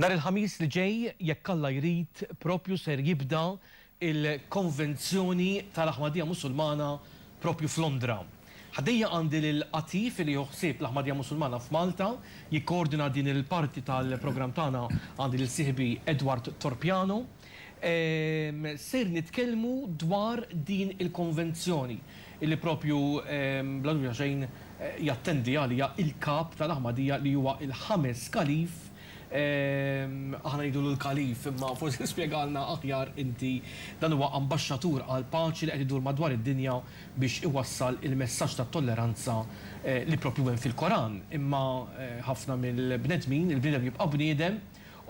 Nhar il-Ħamis li ġej, jekk Alla jrid, propju ser jibda il-Konvenzjoni tal-Aħmadija Musulmana proprju f'Londra. Ħdejja għandi lil Atif li jieħu ħsieb l-Aħmadija Musulmana f'Malta. Jikkoordina din il-parti tal-programm tagħna għandi lil sieħbi Edward Torpiano. Ser nitkellmu dwar din il-Konvenzjoni li proprju bla dubju ta' xejn jattendi għaliha l-Kap tal-Aħmadija li huwa l-ħames Kalif Aħna ngħidulu l-Kalif, imma forsi spjegalna aħjar inti. Dan huwa ambaxxatur għall-paċi li qed idur madwar id-dinja biex iwassal il-messaġġ tat-tolleranza li proprju hemm fil-Koran. Imma ħafna mill-bnedmin, il-bniedem jibqa' bniedem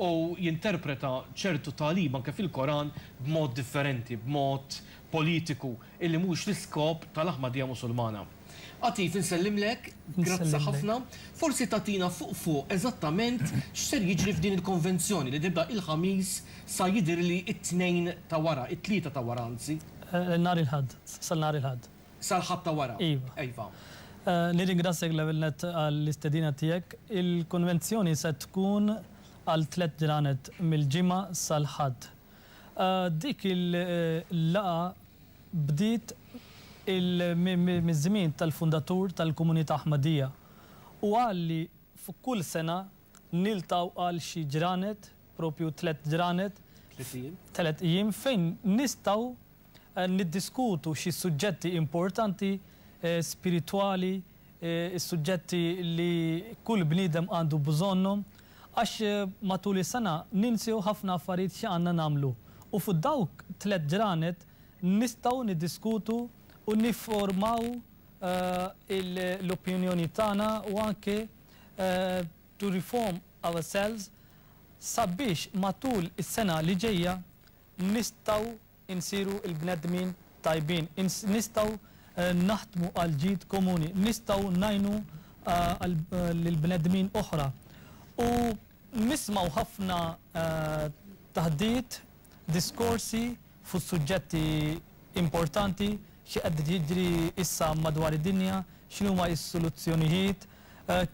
u jinterpreta ċertu tagħlim anke fil-Koran b'mod differenti, b'mod politiku. illi mhuwiex l-iskop tal-Ahmadija Musulmana. Atif, insellimlek, grazzi ħafna. Forsi tagħtina fuq fuq eżattament x'ser jiġri f'din il-konvenzjoni li tibda il-Ħamis sa jidhirli t-Tnejn ta' wara, it-Tlieta ta' wara anzi. Nhar il-Ħadd, sa nhar il-Ħadd. Sal-Ħadd ta' wara. Iva. Nirringrazzjak l-ewwel nett għall-istedina tiegħek. Il-konvenzjoni se tkun għal tliet ġranet mill-Ġimgħa sal-Ħadd. Dik il-laqgħa bdiet miż-żmien tal-fundatur tal-Komunità Ahmadiyya u qal li f'kull sena niltgħu għal xi ġranet, propju tliet ġranet, tliet ijiem fejn nistgħu niddiskutu xi suġġetti importanti, spiritwali, is-suġġetti li kull bniedem għandu bżonnhom, għax matul is-sena ninsew ħafna affarijiet xi għandna nagħmlu u fuq dawk tliet ġranet nistgħu niddiskutu u nifformaw l-opinjonijiet tagħna u anke to reform ourselves sabiex matul is-sena li ġejja nistgħu insiru l-bnedmin tajbin, nistgħu naħdmu għall-ġid komuni, nistgħu ngħinu lil bnedmin oħra. U nismgħu ħafna taħdiet, diskorsi fuq suġġetti importanti, xi qed jiġri issa madwar id-dinja, x'inhuma s-soluzzjonijiet,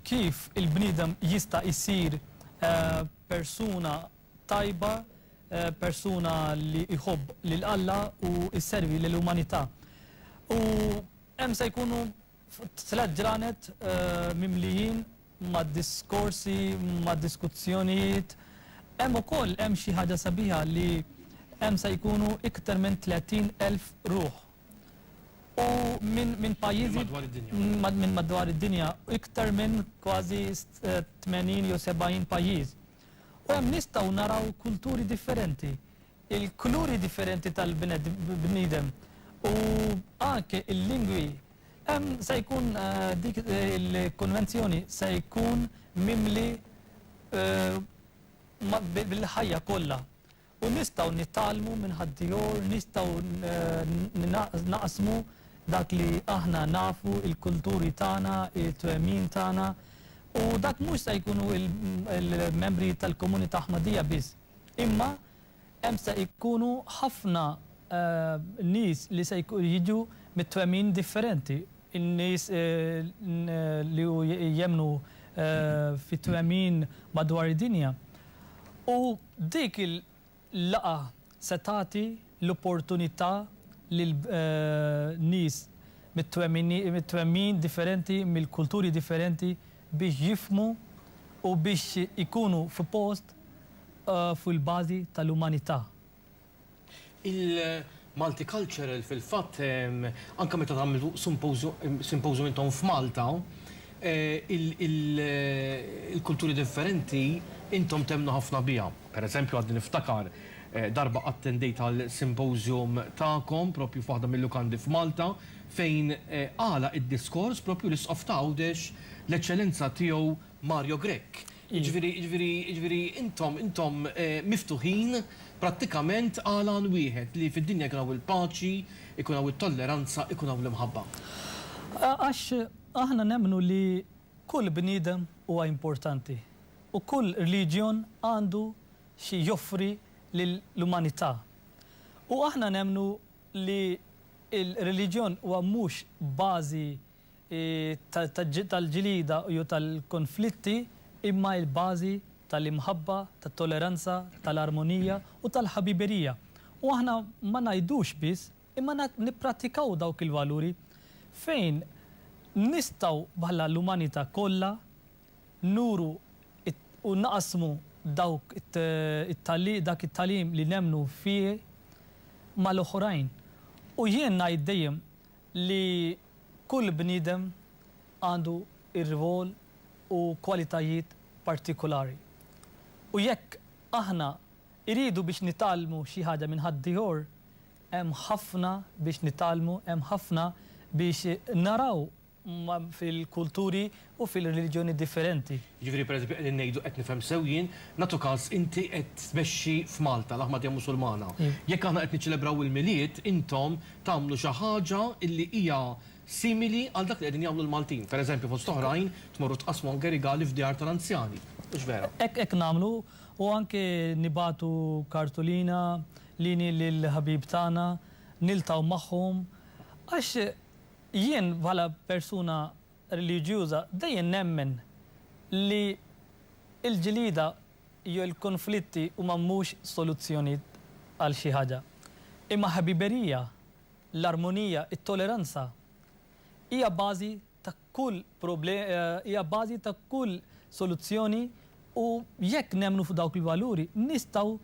kif il-bniedem jista' jsir persuna tajba, persuna li jħobb lil Alla u jservi lill-umanità. U hemm se jkunu tliet ġranet mimlijin ma' diskorsi, ma' diskussjonijiet. Hemm ukoll hemm xi ħaġa sabiħa li hemm se jkunu iktar minn 30 elf ruħ. U minn minn pajjiżi minn madwar id-dinja, iktar minn kważi 80 jew 70 pajjiż. U hemm nistgħu naraw kulturi differenti, il-kuluri differenti tal-bniedem u anke il-lingwi. Hemm se jkun dik il-konvenzjoni se jkun mimli bil-ħajja kollha. U nistgħu nitgħallmu minn ħaddiehor, nistgħu naqsmu dak li aħna nafu, il-kulturi tagħna, it-twemmin tagħna. U dak mhux se jkunu l-membri tal-komunità Aħmadija biss, imma hemm se jkunu ħafna nies li se jiġu mit-twemmin differenti, in-nies li jemmnu fi twemmin madwar id-dinja. U Dik il-laqgħa se tagħti l-opportunità lil nies mit-twemmin differenti, mill-kulturi differenti biex jifhmu u biex ikunu fi post fuq il-bażi tal-umanità. Il-Multicultural fil-fatt anke meta tagħmlu symposium intom f'Malta, il-kulturi differenti intom temmnu ħafna biha. Per eżempju għadni niftakar darba attendejt għal symposium tagħkom proprju f'waħda mil-lukandi f'Malta fejn għalaq id-diskors proprju l-Isqof ta' Għawdex, l-Eċċellenza Tiegħu Mario Grech. Jiġifieri, jiġifieri, jiġifieri intom, intom miftuħin prattikament għal għan wieħed, li fid-dinja jkun hawn il-paċi, ikun hawn it-tolleranza, ikun hawn l-imħabba. Għax aħna nemmnu li kull bniedem huwa importanti u kull rliġjon għandu xi joffri lill-umanità. U aħna nemmnu li l-reliġjon huwa mhux bażi tal-ġlieda jew tal-konflitti imma il-bażi tal-imħabba, tat-toleranza, tal-armonija u tal-ħabiberija. U aħna ma ngħidux biss imma nipprattikaw dawk il-valuri fejn nistgħu bħala l-umanità kollha nuru u naqsmu dawk dak it-tagħlim li nemmnu fih mal-oħrajn. U jien ngħid dejjem li kull bniedem għandu rwol u kwalitajiet partikulari u jekk aħna rridu biex nitgħallmu xi ħaġa minn ħaddieħor, hemm ħafna biex nitgħallmu, hemm ħafna biex naraw fil-kulturi u fil-reliġjoni differenti. Jiġifieri pereżempju qegħdin ngħidu, qed nifhem sew jien, nagħtu każ inti qed tmexxi f'Malta, l-Aħmadija Musulmana. Jekk aħna qed niċċelebraw il-Milied, intom tagħmlu xi ħaġa li hija simili għal dak li qegħdin jagħmlu l-Maltin. Pereżempju fost oħrajn tmorru tqassmu anke rigali f'djar tal-anzjani. Hux vera? Hekk hekk nagħmlu u anke nibagħtu kartulina lini lill-ħbieb tagħna, niltaqgħu magħhom għax jien bħala persuna reliġjuża dejjem nemmen li l-ġlieda jew l-kunflitti huma mhux soluzzjonijiet għal xi ħaġa. Imma ħbiberija, l-armonija, it-toleranza hija bażi ta' kull hija bażi ta' kull soluzzjoni u jekk nemmnu f'dawk il-valuri nistgħu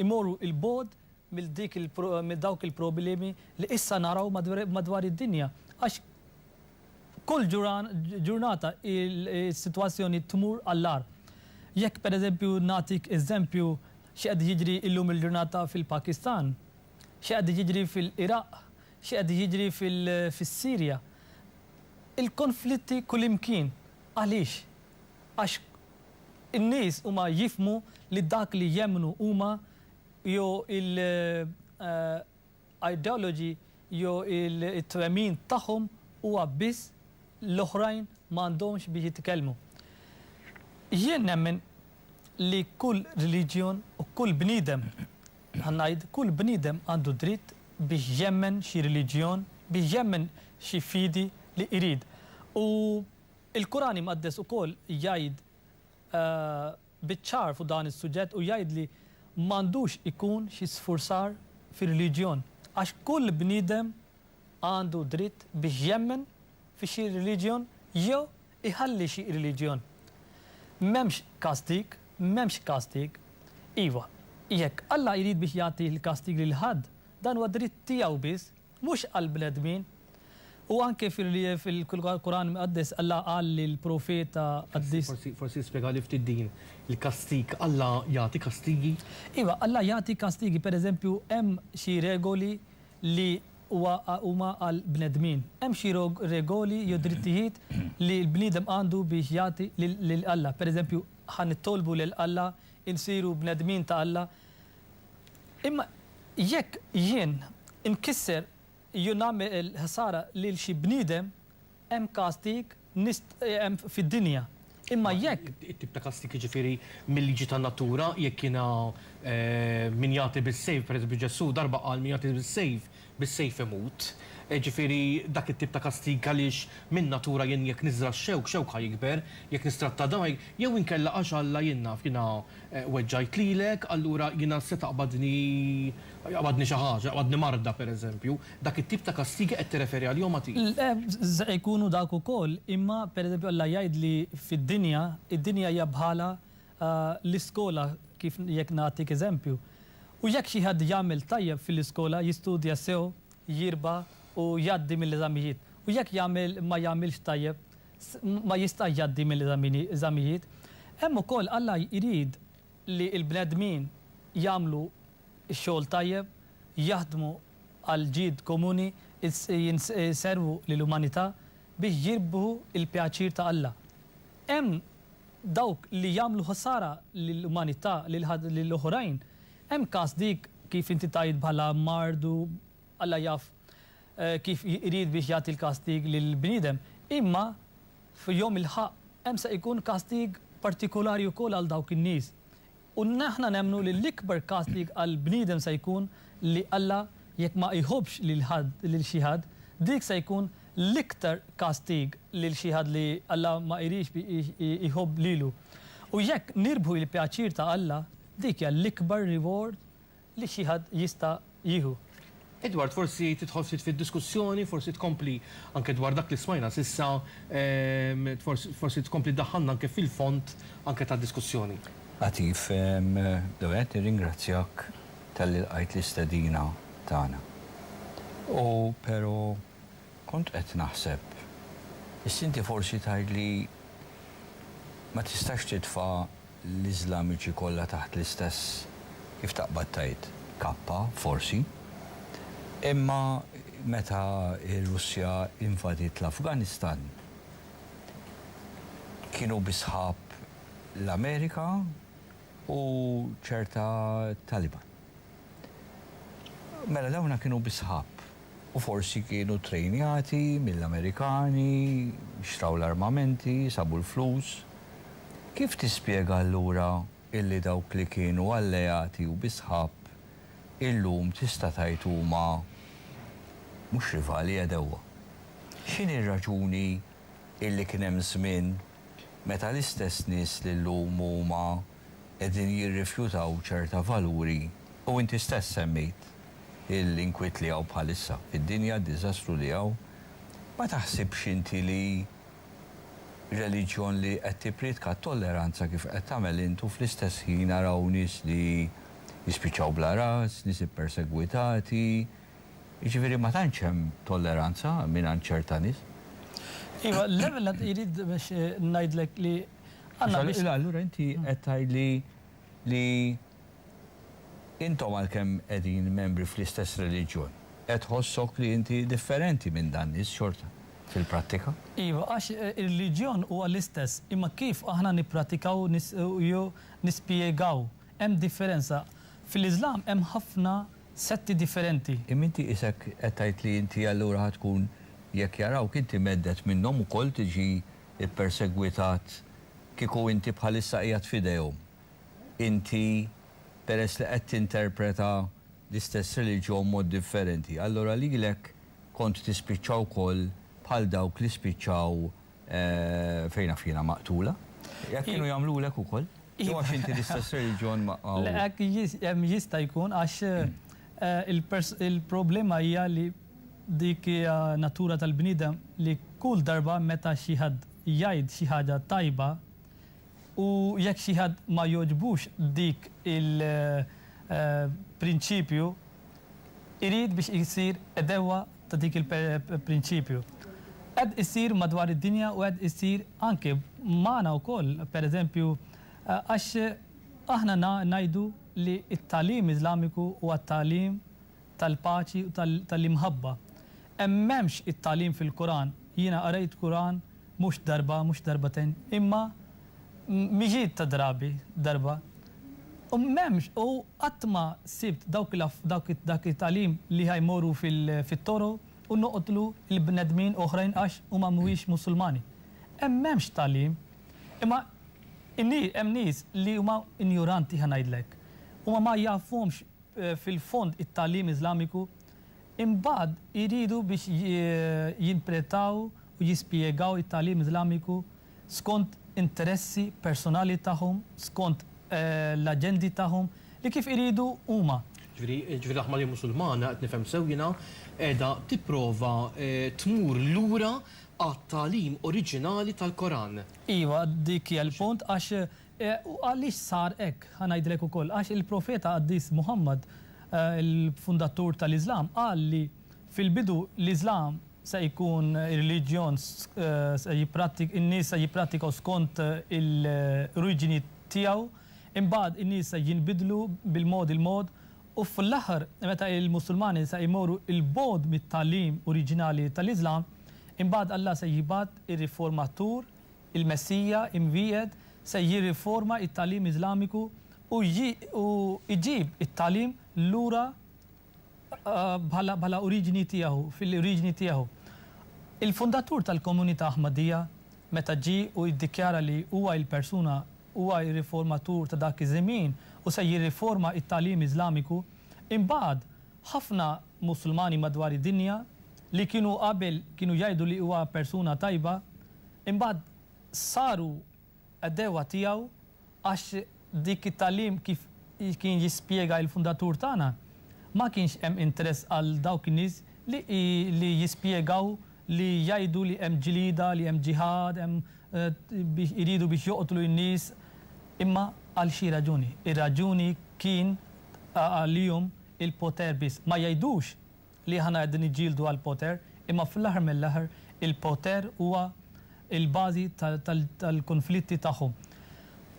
imorru 'l bogħod mill dik il mill dawk il problemi li issa naraw madwar id dinja għax kull ġuran ġurnata il sitwazzjoni tmur għall agħar. Jekk per eżempju nagħtik eżempju xi qed jiġri illum il ġurnata fil Pakistan, xi qed jiġri fil Iraq, xi qed jiġri fil fis Sirja. Il konflitti kullimkien. Għaliex? Għax in nies huma jifhmu li dak li jemmnu huma jew il-ideology jew it-twemmin tagħhom huwa biss l-oħrajn m'għandhomx biex jitkellmu. Jien nemmen li kull reliġjon u kull bniedem, ħa ngħid kull bniedem għandu dritt biex jemmen xi reliġjon, biex jemmen xi fidi li jrid. U l-Quran Imqaddes ukoll jgħid, biċ-ċar fuq dan is-suġġett u jgħid li m'għandux ikun xi sfurzar fir-reliġjon għax kull bniedem għandu dritt biex jemmen fi xi reliġjon jew iħalli xi reliġjon. M'hemmx kastig, m'hemmx kastig. Iva, jekk Alla jrid biex jagħti l-kastig lil ħadd, dan huwa dritt tiegħu biss. Mhux għall-bnedmin. U anke fil-Quran Imqaddes Alla qal lill-Profeta Qaddis. Forsi, forsi spjegali ftit din, il-kastig, Alla jagħti kastigi? Iva, Alla jagħti kastigi. Pereżempju, hemm xi regoli li huwa huma għall-bnedmin. Hemm xi regoli jew drittijiet li l-bniedem għandu biex jagħti lil Alla. Pereżempju, ħa nittolbu lil Alla, insiru bnedmin ta' Alla. Imma jekk jien inkisser jew nagħmel ħsara lil xi bniedem, hemm kastig nist hemm fid-dinja. Imma jekk. It-tip ta' kastig jiġifieri mil-liġi tan-natura, jekk jiena min jagħti bis-sejf, pereżempju Ġesù darba qal min jagħti bis-sejf bis-sejf imut, jiġifieri dak it-tip ta' kastig għaliex minn natura jien jekk niżra' x-xewk, xewk ħa jikber, jekk nistratta dgħajr, jew inkella għax Alla jien naf jiena weġġajt lilek, allura jiena se taqbadni jaqbadni xi ħaġa, jaqbadni marda, pereżempju. Dak it-tip ta' kastigi qed tirreferi għalihom agħti? Le, se jkunu dak ukoll, imma pereżempju Alla jgħidli fid-dinja, id-dinja hija bħala l-iskola kif jekk nagħtik eżempju. U jekk xi ħadd jagħmel tajjeb fil-iskola jistudja sew, jirba' u jgħaddi mill-eżamijiet. U jekk jagħmel ma jagħmilx tajjeb s, ma jistax jgħaddi mill-eżamini, eżamijiet. Hemm ukoll Alla jrid li l-bnedmin jagħmlu x-xogħol tajjeb, jaħdmu għall-ġid komuni, is, jins, iservu lill-umanità biex jirbħu l-pjaċir ta' Alla. Hemm dawk li jagħmlu ħsara lill-umanità, lil oħrajn. Hemm każ dik, kif inti tgħid bħala mard u Alla jaf kif irid biex jagħti l-kastig lil bniedem. Imma f'Jom il-Ħaqq hemm se jkun kastig partikolari wkoll għal dawk in-nies. U aħna nemmnu li l-ikbar kastig għal bniedem se jkun li Alla jekk ma jħobbx lil ħadd lil xi ħadd, dik se jkun l-iktar kastig lil xi ħadd li Alla ma jridx jħobb lilu. U jekk nirbħu il-pjaċir ta' Alla, dik hija l-ikbar reward li xi ħadd jista' jieħu. Edward, forsi tidħol ftit fid-diskussjoni, forsi tkompli anke dwar dak li smajna s'issa, forsi tkompli ddaħħalna anke fil-fond anke tad-diskussjoni. Għatif, l-ewwel nett nirringrazzjak talli lqajt l-istedina tagħna. U pero Kont qed naħseb, is-Sinti forsi tgħid li ma tistax titfa' l-Iżlamiċi kollha taħt l-istess, kif taqbad tgħid, kappa, forsi. Imma meta r-Russja invadiet l-Afganistan, kienu bi sħab l-Amerika u ċerta Taliban. Mela dawna kienu bi sħab u forsi kienu trejnjati mill-Amerikani, xtraw l-armamenti, sabu l-flus. Kif tispjega allura illi dawk li kienu alleati u bi sħab illum tista' tgħid huma mhux rivali għedewwa? X'inhi r-raġuni illi kien hemm żmien meta l-istess nies li llum huma qegħdin jirrifjutaw ċerta valuri u inti stess semmejt l-inkwiet li hawn bħalissa fid-dinja, d-diżastru li hawn, ma taħsibx inti li reliġjon li qed tippriedka t-tolleranza kif qed tagħmel int u fl-istess ħin araw nies li jispiċċaw bla ras, nies ippersegwitati, jiġifieri ma tantx hemm tolleranza mingħand ċerta nies. Iva, l-ewwel nett irid biex ngħidlek li Allura inti qed tgħidli li intom għalkemm qegħdin membri fl-istess reliġjon, qed tħossok li inti differenti minn dan nies xorta fil-prattika? Iva, għax ir-reliġjon huwa l-istess, imma kif aħna nippratikaw u nispjegaw hemm differenza. Fil-Iżlam hemm ħafna setti differenti. Imma inti qisek qed tgħid li inti allura ħa tkun, jekk jarawk inti mhedded minnhom ukoll tiġi ppersegwitat kieku inti bħalissa qiegħed f'idejhom. Inti, peress li qed tinterpreta l-istess reliġjon b'mod differenti, allura lilek kont tispiċċa wkoll bħal dawk li spiċċaw, fejn naf jiena, maqtula. Hekk kienu jagħmlulek ukoll? Jew għax inti l-istess reliġjon ma'. Le, hekk jista' jkun għax il-problema hija li Dik hija natura tal-bniedem li kull darba meta xi ħadd jgħid xi ħaġa tajba u jekk xi ħadd ma jogħġbux dik il prinċipju irid biex isir edewwa ta' dik il prinċipju. Qed isir madwar id-dinja u qed isir anke magħna wkoll per eżempju għax aħna ngħidu li t-tagħlim Iżlamiku huwa tagħlim tal-paċi u tal-imħabba. Hemm m'hemmx it-tagħlim fil-Quran? Jiena qrajt Quran mhux darba, mhux darbtejn, imma mijiet ta' drabi, darba. U m'hemmx, u qatt ma sibt dawk dak it-tagħlim li ħa jmorru fit-toro u noqtlu l-bnedmin oħrajn għax huma mhuwiex Musulmani. Hemm m'hemmx tagħlim. Imma hemm nies li huma injuranti ħa ngħidlek. Huma ma jafhomx fil-fond it-tagħlim Iżlamiku, imbagħad iridu biex jintrpretaw u jispjegaw it-tagħlim Iżlamiku skont interessi personali tagħhom, skont l-aġendi tagħhom li kif iridu huma. Ġifieri, ġifieri l-Aħmalija Musulmana, qed nifhem sew jiena, qiegħda tipprova tmur lura għat-tagħlim oriġinali tal-Koran? Iva, dik hija l-punt għax U għaliex sar hekk? Ħa ngħidlek ukoll. Għax il-Profeta Qaddis Muħammad, il-fundatur tal-Iżlam, qal li fil-bidu l-Iżlam se jkun reliġjon se jipprattik in-nies se jipprattikaw skont il-oriġini tiegħu, imbagħad in-nies se jinbidlu bil-mod il-mod u fl-aħħar meta l-Musulmani se jmorru 'l bogħod mit-tagħlim oriġinali tal-Iżlam, imbagħad Alla se jibgħat ir-riformatur Il-Messija imwiegħed se jirriforma t-tagħlim Iżlamiku u jġib it-tagħlim lura bħala oriġini tiegħu, fil-oriġini tiegħu. Il-fundatur tal-komunità Ahmadija, meta ġie u iddikjara li huwa il-persuna, huwa r-riformatur ta' dak iż-żmien u se jirriforma t-tagħlim Iżlamiku, imbagħad ħafna Musulmani madwar id-dinja li kienu qabel kienu jgħidu li huwa persuna tajba, Imbagħad saru għeddewwa tiegħu għax dik it-tagħlim kif kien jispjega il-fundatur tagħna ma kienx hemm interess għal dawk in-nies li jispjegaw li jgħidu li hemm ġlieda, li hemm ġiħad, hemm biex iridu biex joqtlu n-nies. Imma għal xi raġuni? Ir-raġuni kien għalihom il-poter biss. Ma jgħidux li aħna qegħdin niġġieldu għall-poter, imma fl-aħħar mill-aħħar il-poter huwa l-bażi tal-kunflitti tagħhom.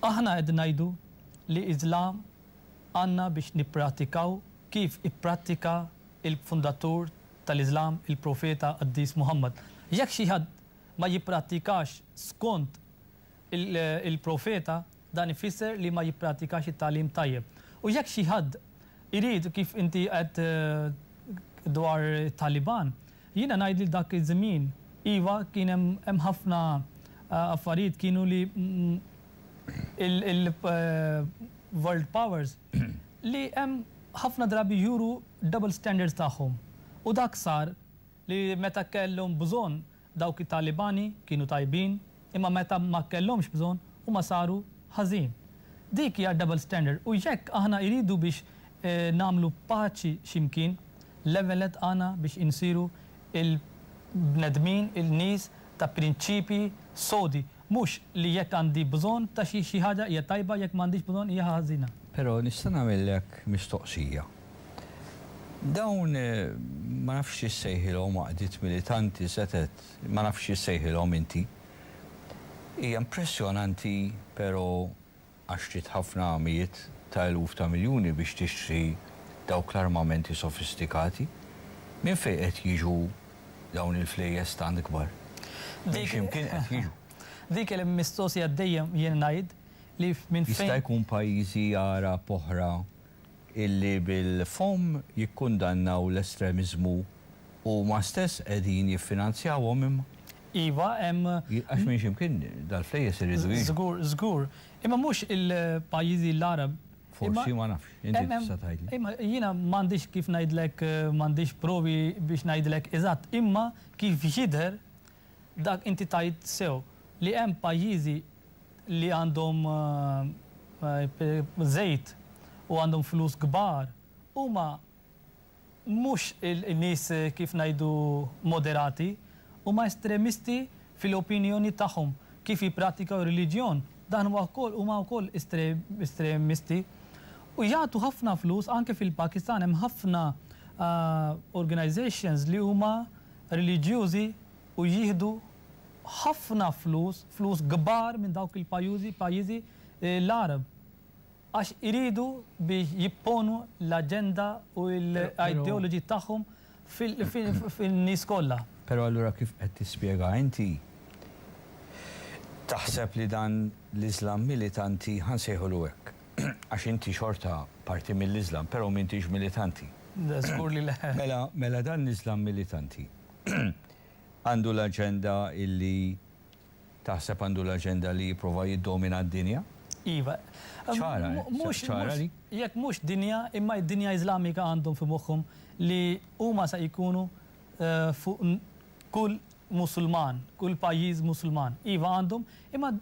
Aħna qegħdin ngħidu li Iżlam għandna biex nipprattikaw kif ipprattika l-fundatur tal-Iżlam, il-Profeta Qaddis Muħammad. Jekk xi ħadd ma jipprattikax skont il-Profeta, Dan ifisser li ma jipprattikax it-tagħlim tajjeb. U jekk xi ħadd irid, kif inti għedt dwar it-Taliban, jiena ngħid li dak iż-żmien, iva, kien hemm hemm ħafna affarijiet kienu li il-world powers li hemm ħafna drabi juru double standards tagħhom. U dak sar li meta kellhom bżonn Dawk it-Talibani kienu tajbin imma meta ma kellhomx bżonn huma saru ħażin. Dik hija double standard u jekk aħna jridu biex nagħmlu paċi x'imkien, l-eveled għana biex insiru il-bnedmin, il-nies ta' prinċipji sodi. Mhux li jekk għandi bżonn ta' xi xi ħaġa hija tajba, jekk m'għandix bżonn hija ħażina. Però nista' nagħmillek mistoqsija. Dawn, ma nafx xi ssejħilhom, għaqdiet militanti, setgħet, ma nafx xi ssejħilhom inti. Hija impressjonanti, però, għax trid ħafna mijiet ta' eluf ta' miljuni biex tixtri dawk l-armamenti sofistikati. Minn fejn qed jiġu dawn il-flejjes tant kbar? Minn xi mkien qed jiġu. Dik hi l-mistoqsija dejjem jien ngħid li minn fejn. Jista' jkun pajjiżi Għarab oħra illi bil-fomm jikkundannaw l-estremiżmu huma stess qegħdin jiffinanzjawhom imma. Iva, hemm. Għax minn x'imkien dal-flejjes iridu jiġu. Żgur, żgur. Imma mhux il-pajjiżi l-Għarab. Forsi, ma nafx. Inti tista' tgħidli. Imma jiena m'għandix kif ngħidlek, m'għandix provi biex ngħidlek eżatt, imma kif jidher Dak inti tgħid sew li hemm pajjiżi li għandhom żejt u għandhom flus kbar huma mhux nies kif ngħidu moderati huma estremisti fil-opinjoni tagħhom kif jippratikaw ir-reliġjon dan huwa wkoll huma wkoll estremisti u jagħtu ħafna flus anke fil-Pakistan hemm ħafna organisations li huma reliġjużi u jieħdu ħafna flus, flus kbar minn dawk il-pajużi, pajjiżi l-Għarab għax iridu biex jipponu l-aġenda u l-ideology tagħhom fin-nies kollha. Però allura kif qed tispjega inti, taħseb li dan l-Iżlam militanti, ħa nsejħulu hekk, għax inti xorta parti mill-Iżlam, però m'intix militanti. Le, żgur li le. Mela, mela dan l-Iżlam militanti għandu l-aġenda illi, taħseb għandu l-aġenda li jipprova jiddomina d-dinja? Iva. Ċara, ċara li. Jekk mhux dinja, imma d-dinja Iżlamika għandhom fi moħħhom li huma se jkunu fuq kull Musulman, kull pajjiż Musulman, iva għandhom, imma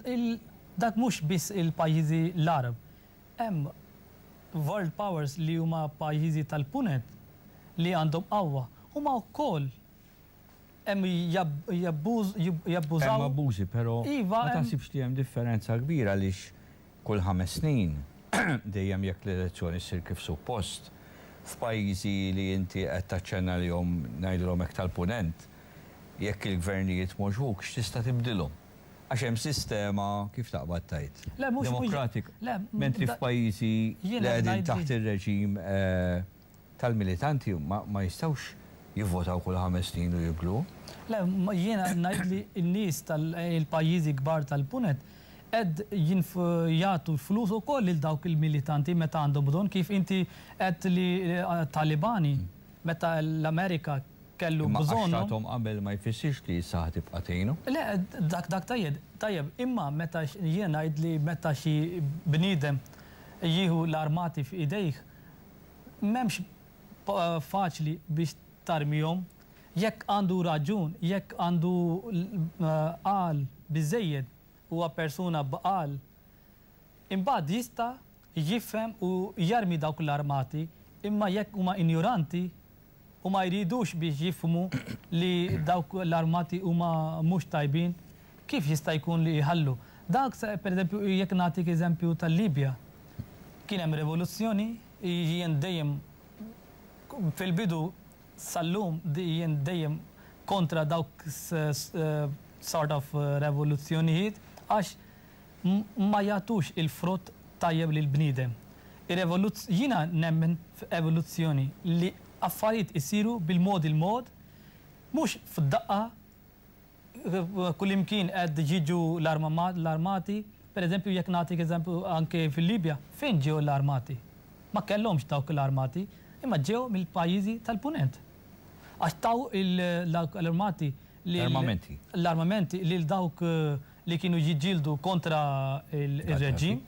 dak mhux biss il-pajjiżi l-Għarab. Hemm world powers li huma pajjiżi tal-Punent li għandhom qawwa, huma wkoll hemm jabbużaw. Hemm abbużi, però ma taħsibx li hemm differenza kbira għaliex kull ħames snin, dejjem jekk l-elezzjoni ssir kif suppost, f'pajjiżi li inti qed taċċenna lihom, ngħidilhom hekk tal-Punent, Jekk il-gvernijiet m'għoġbukx tista' tibdilhom. Għax hemm sistema, kif taqbad tgħid, demokratika. Mentri f'pajjiżi li qegħdin taħt ir-reġim tal-militanti ma jistgħux jivvotaw kull ħames snin u jibdlu. Le, jiena ngħid li n-nies tal-pajjiżi kbar tal-Punent qed jagħtu l-flus ukoll lil dawk il-militanti meta għandhom bżonn kif inti għedt li talibani meta l-Amerika kellu bżonnu. Imma għax tathom qabel ma jfissirx li issa ħa tibqa' tgħinu. Le, dak dak tajjeb, tajjeb, imma meta jiena ngħid li meta xi bniedem jieħu l-armati f'idejh, m'hemmx faċli biex tarmihom. Jekk għandu raġun, jekk għandu l-għaqal biżżejjed, huwa persuna b'għaqal, Imbagħad jista' jifhem u jarmi dawk l-armati imma jekk huma injoranti u ma jridux biex jifhmu li dawk l-armati huma mhux tajbin kif jista' jkun li jħallu? Dak se pereżempju jekk nagħtik eżempju tal-Libja. Kien hemm revoluzzjoni, jien dejjem fil-bidu sal-lum jien dejjem kontra dawk sort of revoluzzjonijiet għax ma jagħtux il-frott tajjeb lill-bniedem. Ir-revoluz, jiena nemmen f'evoluzzjoni, li affarijiet isiru bil-mod il-mod, mhux f'daqqa kullimkien qed jiġu l-armati, pereżempju jekk nagħtik eżempju anke fil-Libja, fejn ġew l-armati? Ma kellhomx dawk l-armati, imma ġew mill-pajjiżi tal-Punent. Għax taw l-armati lil. L-armamenti. L-armamenti lil dawk. li kienu jiġġieldu kontra r-reġġim.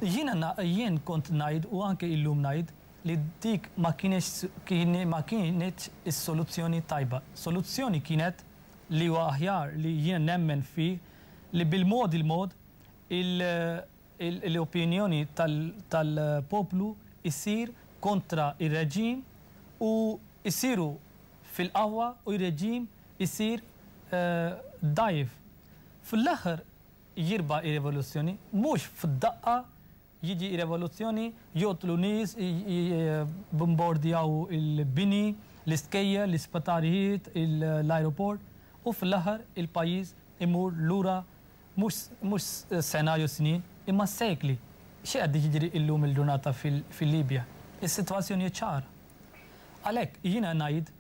Jien kont ngħid u anke illum ngħid li dik ma kinitx is-soluzzjoni t-tajba. Soluzzjoni kienet li huwa aħjar li jien nemmen fih li bil-mod il-mod il l-opinjoni tal-poplu ssir kontra r-reġim u jsiru fil-qawwa u r-reġim isir dgħajjef. Fl-aħħar jirbaħ ir-revoluzzjoni, mhux f'daqqa jiġi r-revoluzzjoni, joqtlu nies, jibbombardjaw il-bini, l-iskejjel, l-isptarijiet, l-ajruport u fl-aħħar il-pajjiż imur lura Mhux sena jew snin, imma sekli. Xi qed jiġri illum il-ġurnata fil-Libja? Is-sitwazzjoni hi ċara. Għalhekk jiena ngħid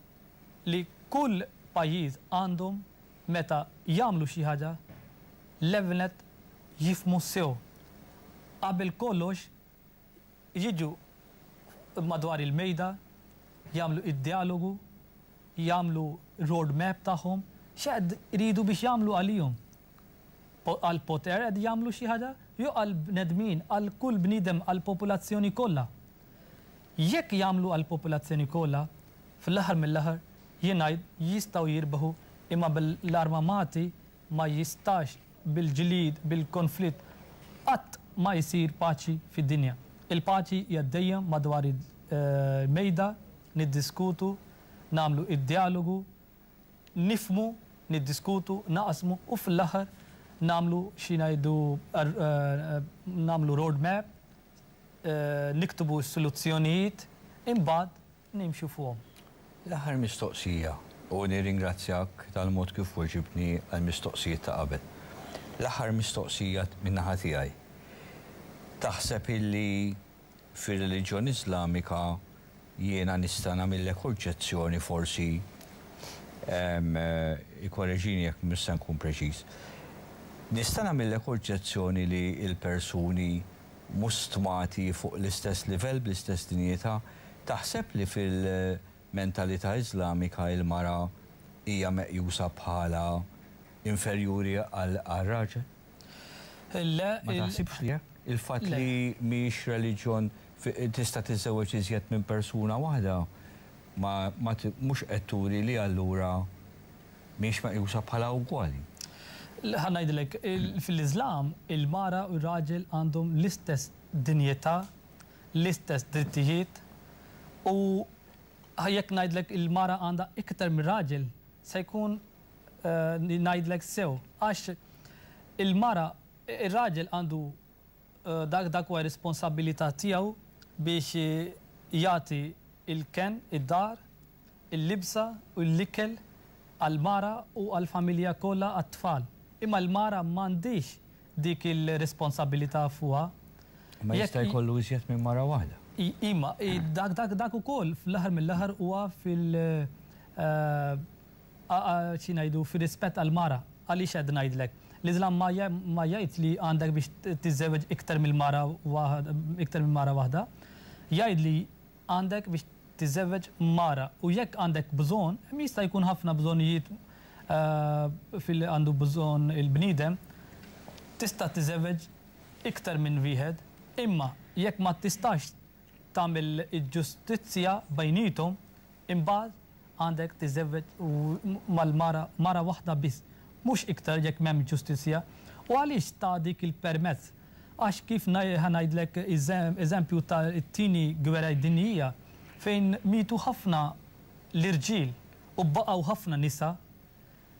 li kull pajjiż għandhom meta jagħmlu xi ħaġa l-ewwel nett jifhmu sew qabel kollox jiġu madwar il-mejda, jagħmlu id-djalogu, jagħmlu road map tagħhom, x'qed iridu biex jagħmlu għalihom? Għall-poter qed jagħmlu xi ħaġa jew għall-bnedmin, għal kull bniedem, għall-popolazzjoni kollha? Jekk jagħmlu għall-popolazzjoni kollha, fl-aħħar mill-aħħar jien ngħid jistgħu jirbħu imma bl-armamati Ma jistax bil-ġlied, bil-konflitt qatt ma jsir paċi fid-dinja. Il-paċi hija dejjem madwar il-mejda, niddiskutu, nagħmlu id-djalogu, nifhmu, niddiskutu, naqsmu u fl-aħħar nagħmlu xi ngħidu nagħmlu road map, niktbu s-soluzzjonijiet, imbagħad nimxu fuqhom. L-aħħar mistoqsija, u nirringrazzjak tal-mod kif weġibtni għall-mistoqsijiet ta' qabel. L-aħħar mistoqsija min-naħa tiegħi, taħseb illi fir-reliġjon Iżlamika jiena nista' nagħmillek oġġezzjoni forsi, ikkoreġini jekk mhux se nkun preċiż, nista' nagħmillek oġġezzjoni li l-persuni, mhux stmati fuq l-istess livell, bl-istess dinjità. Taħseb li fil-mentalità Iżlamika il-mara hija meqjusa bħala inferjuri għar-raġel? Le. Ma taħsibx li hekk? Il-fatt li mhijiex reliġjon tista' tiżżewweġ iżjed minn persuna waħda ma mhux qed turi li allura mhiex meqjusa bħala ugwali. Ħa ngħidilek, fil-Iżlam il-mara u r-raġel għandhom l-istess dinjità, l-istess drittijiet u jekk ngħidlek il-mara għandha iktar mir-raġel se jkun ngħidlek sew għax il-mara, ir-raġel għandu dak huwa r-responsabbilità tiegħu biex jagħti l-kenn, id-dar, il-libsa u l-ikel għall-mara u għall-familja kollha għat-tfal. Imma l-mara m'għandhiex dik il-responsabilità fuqha. Imma jista' jkollu iżjed minn mara waħda. Imma dak ukoll fl-aħħar mill-aħħar huwa fil, xi ngħidu, fir-rispett għall-mara. Għaliex qed ngħidlek? L-Iżlam ma jgħidx li għandek biex tiżżewweġ iktar mill-mara, iktar minn mara waħda. Jgħid li għandek biex tiżżewweġ mara u jekk għandek bżonn, hemm jista' jkun ħafna bżonnijiet fil-li għandu bżonn il-bniedem, tista' tiżżewweġ iktar minn wieħed, imma jekk ma tistax tagħmel il-ġustizzja bejniethom, imbagħad Għandek tiżżewweġ mal-mara mara waħda biss, mhux iktar jekk m'hemmx ġustizzja. U għaliex ta dik il-permess? Għax kif ħa ngħidlek eżempju ta' t-Tieni Gweraj Dinjija fejn mietu ħafna l-irġiel u baqgħu ħafna nisa,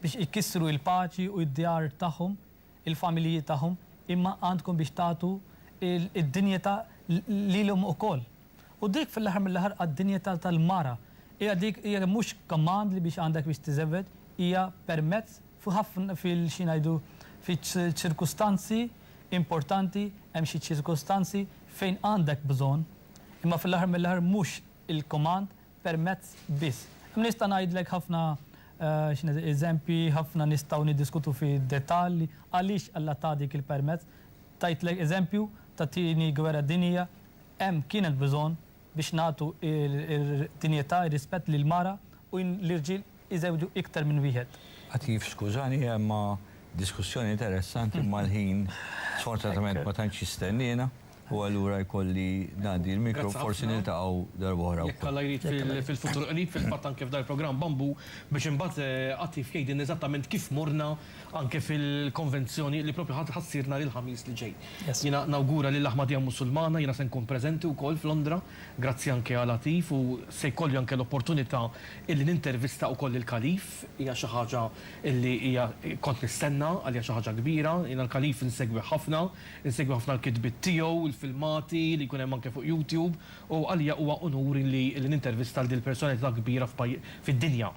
biex ikkissru il-paċi u d-djar tagħhom, il-familji tagħhom, imma għandkom biex tagħtu d-dinjità lilhom ukoll. U dik fil-aħħar mill-aħħar għad-dinjità tal-mara. Hija dik hija mhux command li biex għandek biex tiżewweġ, hija permezz f'ħafna fil xi ngħidu fiċ-ċirkustanzi importanti hemm xi ċirkustanzi fejn għandek bżonn, imma fil-aħħar mill-aħħar mhux il-command permezz biss. Nista' ngħidlek ħafna eżempji, ħafna nistgħu niddiskutu fid-dettall għaliex Alla ta dik il-permezz. Tajtlek eżempju tat-Tieni Gwerra Dinjija, hemm kien hemm bżonn biex nagħtu d-dinjità, ir-rispett lill-mara u l-irġiel iżewġu iktar minn wieħed. Atif skużani imma diskussjoni interessanti imma l-ħin sfortunatament ma tantx jistenniena u allura jkolli ngħaddi l-mikro forsi niltaqgħu darba oħra wkoll. Jekk Alla jrid fil-futur qrib fil-fatt anke f'dan il-programm Bambù biex imbagħad Atif jgħidilna eżattament kif morna anke fil-konvenzjoni li propju ħa ssir nhar il-Ħamis li ġej. Jiena nawgura lill-Aħmadija Musulmana jiena se nkun preżenti wkoll f'Londra Grazzi anke għal Atif u se jkolli anke l-opportunità illi nintervista ukoll il-Kalif. Hija xi ħaġa illi hija kont nistenna, għalija xi ħaġa kbira. Jiena l-Kalif insegwih ħafna, insegwi ħafna l-kitbiet tiegħu, il-filmati li jkun hemm anke fuq YouTube u għalija huwa unur illi nintervista lil din il-personalità kbira f'paj fid-dinja.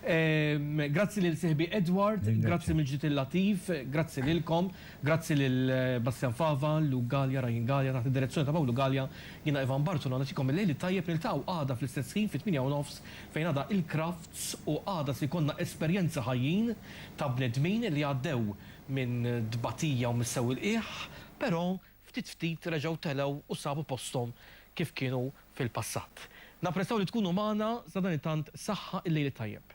Grazzi lil sieħbi Edward, grazzi mill-ġdid lil Latif, grazzi lilkom, grazzi lil Bastian Fava, Luke Galea, Ryan Galea, taħt id-direzzjoni ta' Pawlu Galea, jiena Ivan Bartolo nagħtikom il-lejl it-tajjeb niltaqgħu għada fl-istess ħin fit-tmienja u nofs fejn għada il-Crafts u għada se jkollna esperjenzi ħajjin ta' bnedmin li għaddew minn tbatija u mis-sewwil qiegħ, però ftit ftit reġgħu telgħu u sabu posthom kif kienu fil-passat. Napprezzaw li tkunu magħna sadanittant saħħa il-lejl it-tajjeb.